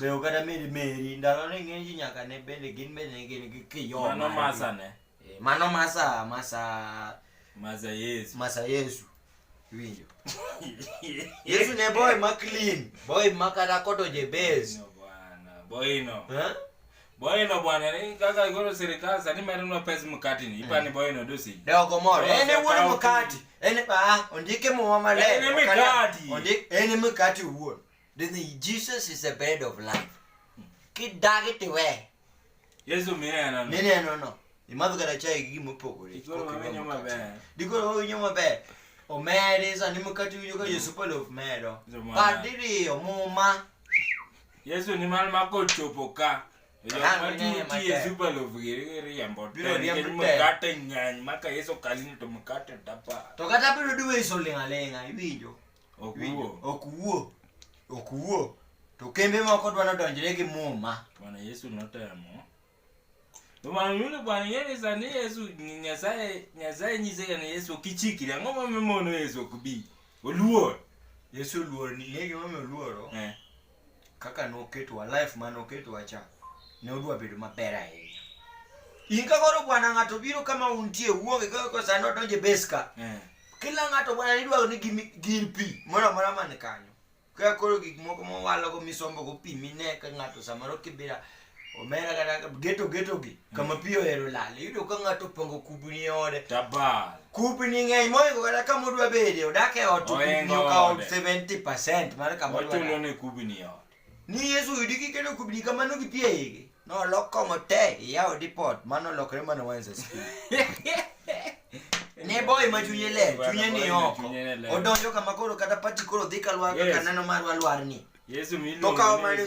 Be oganda meri meri ndalo ni ng'eny ji nyaka ne bende gin bende ne gin gi kiyo. Mano margi. masa ne. Eh, Mano masa masa Masa Yesu. masa Yesu. Winjo. Yesu ne boy ma clean, boy ma kata kodoje base. No bwana. Boino. Eh? Boino bwana ni kaka goro serikali sani medo nwa pes mkati ni. Ipani boino dosi. Dogo moro. Dogo En e wuon kawo mkati. En ah ondike muma maler. En e mkati. Ondik en e mkati wuon. Then Jesus is the bread of life. Kidagiti we. Yesu mineno. Mineno no. Imadho kata chai gi gima opogore. Dikoro winyo maber. Dikoro winyo maber. Omeri sani mkati winyo ka mm. Yesu polo omedo. Padiri omuma. Yesu ni mal mako chopo ka. Mkate ng'eny maka Yesu kalini to mkate dapa. To kata biro duwe iso ling'aling'a iwinjo. Ok Winjo? wuo. ok wuo ok wuo to kembe moko dwa nodonjre gi muma Bwana Yesu notemo. To bwana yule bwana yeye sani Yesu ni Nyasaye Nyasaye nyise kana Yesu kichikire ang'o ma mimono Yesu ok bi. Oluor. yesu oluor ni ng'e gimomiyo oluoro Eh. kaka noketowa life ma noketowa cha ne odwa bedo maber ahinya in ka koro bwana ng'ato biro kama untie wuonge kaka ko sani odonje beska eh. kila ng'ato bwana nidwaro ni gir pi moro amora man kanyo kaka koro gik moko mowalogo misombogo pi mine ka ng'ato samoro kibira omera kata geto geto gi mm. kama pi ohero lal iyudo ka ng'ato opango kubni e ode tabal kubni ng'eny moingo kata kama odwa bede odak e ot kubni okawo 70 percent mar kama ochulo ne kubni e ot ni yesu oyudi kiketo kubni kamano gi pi eigi nolok kong'o te iyawo dipot mano olokre mana wense skul ne boy ma chunye ler chunye ni oko odonjo kama koro kata pati koro dhi kalwar kaka nano marwa lwarni to kawo mane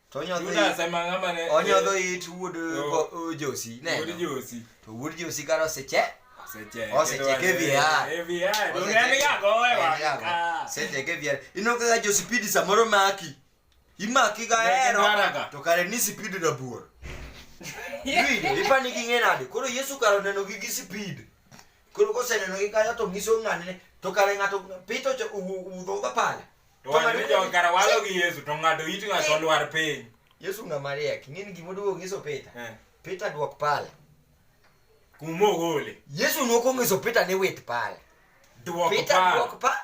To onyodho Judas it- ema ng'ama ne onyodho it wuod Oh. go- Josi. Wuod Neno. Josi. To wuod Josi kar oseche. Osecheke. Osecheke e VR. E VR. Donge en ga gowe wa. Ah. Osecheke VR. Ino kaka Josipidi samoro maki. Imaki ga Negi hero. maraga. To kare ni sipidi rabuor. Iwinjo, ipani gi ng'e nade? Koro Yesu kar oneno gi gi sipid. Koro koseneno gi kanyo to ngiso ng'ane to kare ng'ato pito cho udho ga pala. To wan jo kara walo gi Yesu to ng'ato it ng'ato lwar piny. Yesu ng'a mariek, ng'in gimo duogo ngiso pita. Eh. Pita duok pala. Kumo gole. Yesu noko ngiso pita ne wit pala. Duok pala. Pita duok pala.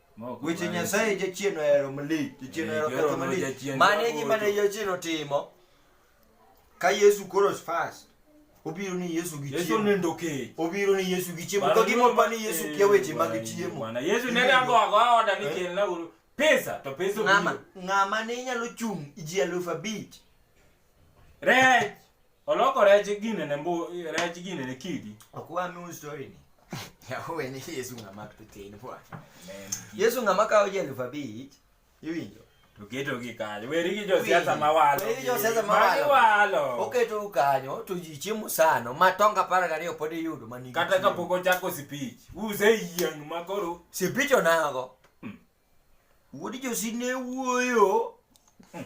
Weche Nyasaye jachien ohero malich, jachien eh, ohero ketho malich. Mane e gima ne jachien otimo ka Yesu koro fast. Obiro ni Yesu gi chiemo. Yesu nindo kech. Obiro ni Yesu gi chiemo. Ka gima pa ni Yesu kia weche mag eh, chiemo. Bwana Yesu ne rango ago oda ni eh? kel na pesa to pesa ngama ngama ne nyalo chung ji alufu abich Rech! Oloko rech gine ne mbu, rech gine ne kidi. Ok wa nu story ni. Yawe ni Yesu ng'ama pitin bwana. Yesu ng'ama kawo ji elfu abich iwinjo. To keto gi kanyo. Weri gi josiasa ma walo. Weri gi josiasa ma walo. Ma walo. Oketo u kanyo to ji chiemo sano ma tonga apar gariyo pod iyudo ma nigi. Kata kapok ochako sipich. Use yieng' ma koro. Sipich onago. Wuod Josi ne wuoyo hmm,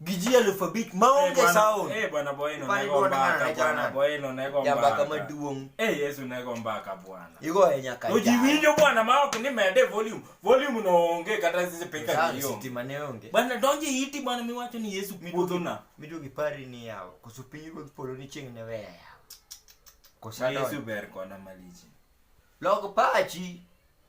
gi ji elfu abich maonge eh, sound. Eh bwana Boyno ne go mbaka bwana Boyno ne go mbaka. Jambaka maduong. Eh Yesu ne go mbaka bwana. Igo e nyaka. Oji winjo bwana ma ok ni mede volume. Volume no onge kata sisi peka hiyo. Sisi mane onge. Bwana donje iti bwana miwacho ni Yesu kuodho na. Mido gipari ni yao. Koso pinyi go polo ni ching ne weya yao. Kosa Yesu ber kona maliji. Log pachi.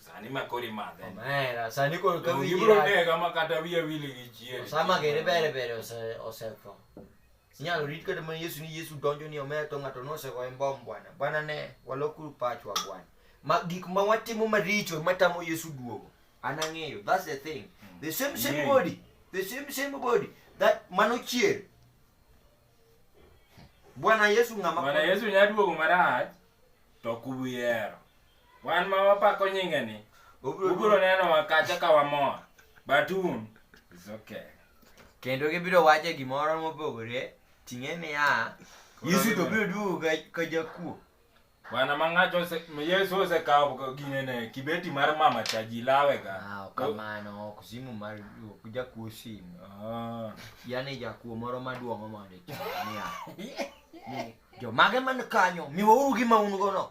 sani makoro imadhe Omera, sani koro ka wigi ibiro rach. nega ma kata wiya wili gi chier Osama gere bere bere ose- osetho. Inyalo rit kata mana Yesu ni Yesu donjo ni omera to ng'ato nosegoye mbom bwana. Bwana ne, walokuru pachwa bwana. Ma gik ma watimo maricho matamo Yesu duogo. An ang'eyo, that's the thing. The same same Ng'eyo. body, the same same body that mano chier. Bwana Yesu ng'ama Bwana Yesu nya duogo marach to kubiyero. Wan ma wapako nyinge ni. Ubiro neno wakacha ka wamor. Batun is okay. Kendo gibiro wacho gimoro mopogore ting'e niya Yesu to biro duogo ka jakuo. Bwana mangacho ose Yesu ose kawo gine ne kibeti mar mama chaji lawe ga. Ah, kamano ok simu mar ok jakuo simu. Ah. Yaani jakuo moro maduong' mondo ichania. Ni jomage man kanyo miwauru gima un gono.